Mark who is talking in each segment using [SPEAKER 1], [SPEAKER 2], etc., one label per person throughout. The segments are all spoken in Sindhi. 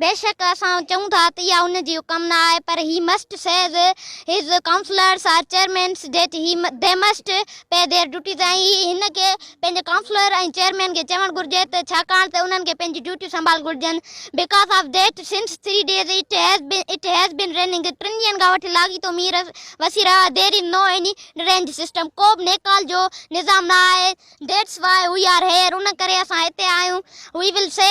[SPEAKER 1] بيشڪ اسان چئون ٿا ته اها ان جي حڪم نه آهي پر he must sees his councillors or chairmens that he they must pay their duties ۽ هي هن کي پنهنجي ڪائونسلر ۽ چيئرمين کي چوڻ گهرجي ته ڇاڪاڻ ته انهن کي پنهنجي ڊيوٽيون سنڀال گهرجن because of that since three days it has been it has been raining ٽن ڏينهن کان وٺي لاڳيتو مينهن وسي رهيو آهي there is no any drainage system ڪو به نيڪال جو نظام نه آهي that's why we are here ان ڪري اسان هتي آهيون we will see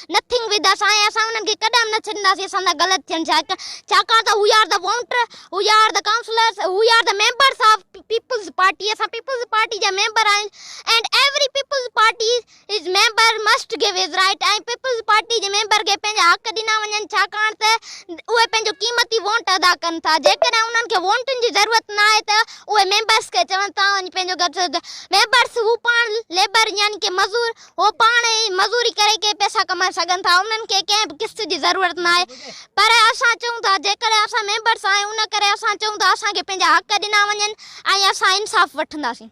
[SPEAKER 1] Nothing with us آهي، اسان انهن کي ڪڏهن به نه ڇڏينداسين، اسان سان غلط ٿين ڇا ڪيو، ڇاڪاڻ ته هو are the voter, who are the councillors, who are the members of Peoples Party, اسان پيپلز پارٽي جا ميمبر آهيون and every Peoples Party is member must give his right ۽ Peoples Party جي ميمبر کي پنهنجا حق ڏنا وڃن ڇاڪاڻ ته اهي پنهنجو قيمتي وونٽ ادا ڪن ٿا، جيڪڏهن انهن کي وونٽن جي ضرورت نه آهي ته اهي ميمبرز کي چون ته توهان وڃي پنهنجو گهر ڇڏيو، ميمبرز هو پاڻ ليبر يعني ڪي مزور، هو پاڻ ئي مزوري ڪري ڪي پئسا ڪمائي سگهن ٿا، انهن کي ڪنهن به قسط جي ضرورت ناهي. پر اسان چئون ٿا جيڪڏهن اسان ميمبرس آهيون ان ڪري اسان چئون ٿا اسان کي پنهنجا حق ڏنا وڃن ۽ اسان انصاف وٺنداسين.